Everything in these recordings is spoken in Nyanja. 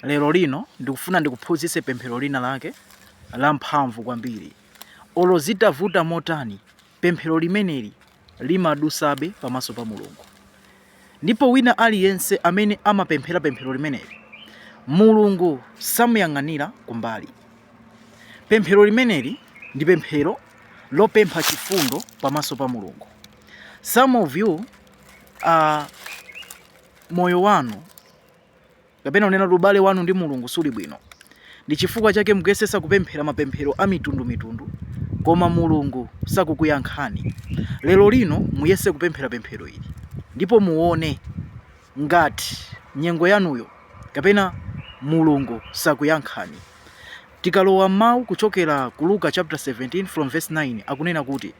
Lero lino ndikufuna ndikuphunzitse pemphero lina lake la mphamvu kwambiri. Olo zitavuta motani, pemphero limeneli limadusabe pamaso pa Mulungu. Ndipo wina aliyense amene amapemphera pemphero limeneli, Mulungu samuyang'anira kumbali. Pemphero limeneli ndi pemphero lopempha chifundo pamaso pa Mulungu. Some of you moyo wanu kapena kunena kuti ubale wanu ndi Mulungu suli bwino, ndi chifukwa chake mukuyesesa kupemphera mapemphero a mitundu mitundu koma Mulungu sakukuyankhani. Lero lino muyese kupemphera pemphero ili ndipo muone ngati nyengo yanuyo kapena Mulungu sakuyankhani. Tikalowa m'mawu kuchokera ku Luka chapter 17 from verse 9 akunena kuti.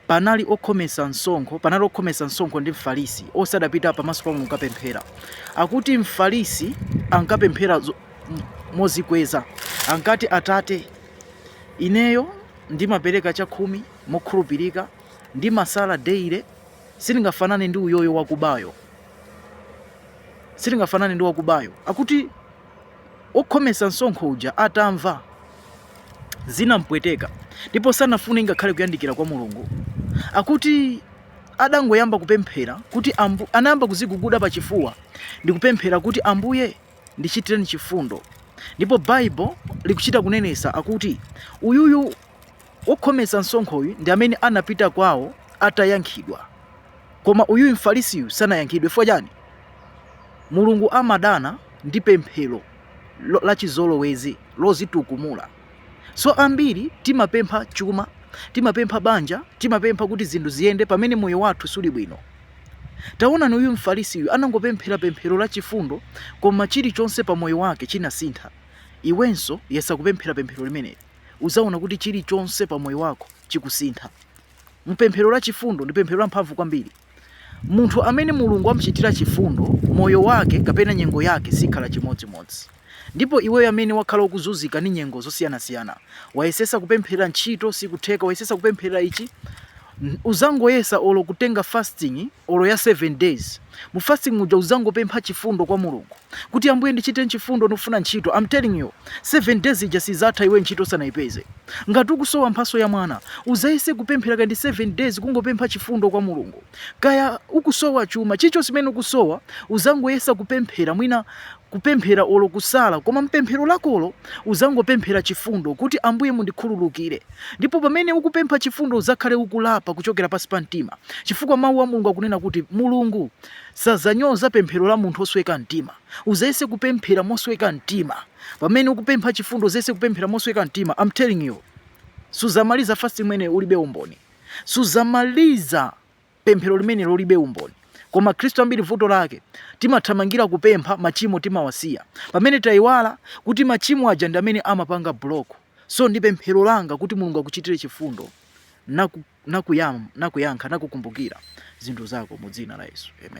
Panali okhometsa msonkho, panali okhometsa msonkho ndi Mfarisi, onse adapita pamaso pa Mulungu kukapemphera. Akuti Mfarisi ankapemphera mozikweza, ankati, Atate, ineyo ndimapereka chakhumi mokhulupirika, ndimasala daily, sindingafanane ndi uyoyo wakubayo, sindingafanane ndi wakubayo. Akuti Okhometsa msonkho uja atamva, zinam'pweteka ndipo sanafune ngakhale kuyandikira kwa Mulungu. Akuti adangoyamba kupemphera kuti, anayamba kuziguguda pa chifuwa ndi kupemphera kuti Ambuye ndichitireni chifundo. Ndipo Bible likuchita kunenesa akuti uyuyu Wokhometsa msonkhoyu ndi amene anapita kwawo atayankhidwa. Koma uyuyu Mfarisiyu sanayankhidwe. Chifukwa chani? Mulungu amadana ndi pemphero lachizolowezi, lozitukumula. So ambiri timapempha chuma, timapempha banja, timapempha kuti zinthu ziyende pamene moyo wathu suli bwino. Taonani uyu Mfarisiyu anangopemphera pemphero lachifundo koma chilichonse pa moyo wake chinasintha. Iwenso yesa kupemphera pemphero limeneli. uzaona kuti chilichonse pa moyo wako chikusintha. Mpemphero la chifundo ndi pemphero lamphamvu kwambiri. Munthu amene Mulungu amchitira chifundo, moyo wake kapena nyengo yake sikhala chimodzimodzi. Ndipo iweyo amene wakhala ukuzunzika ndi nyengo zosiyanasiyana, wayesesa kupemphera ntchito sikutheka, wayesesa kupemphera ichi, uzangoyesa olo kutenga fasting olo ya 7 days. mu fasting muja uzangopempha chifundo kwa Mulungu kuti Ambuye ndichiten chifundo ndikufuna ntchito I'm telling you 7 days ija sizatha iwe ntchito usanaipeze ngati ukusowa mphaso ya mwana uzayese kupemphera kandi 7 days kungopempha chifundo kwa Mulungu kaya ukusowa chuma chilichonse chimene ukusowa uzangoyesa kupemphera mwina kupemphera olo kusala koma mpemphero lakolo uzangopemphera chifundo kuti ambuye mundikhululukire ndipo pamene ukupempha chifundo uzakhale ukulapa kuchokera pansi pa mtima chifukwa mawu a mulungu akunena kuti mulungu sazanyoza pemphero la munthu osweka mtima uzayese kupemphera mosweka mtima pamene ukupempha chifundo uzayese kupemphera mosweka mtima I'm telling you suzamaliza fast imene ulibe umboni suzamaliza pemphero limene ulibe umboni koma khristu ambiri vuto lake timathamangira kupempha machimo timawasiya pamene tayiwala kuti machimo aja ndi amene amapanga block so ndi pemphero langa kuti mulungu akuchitire chifundo nakuyankha naku nakukumbukira zinthu zako mu dzina la yesu amen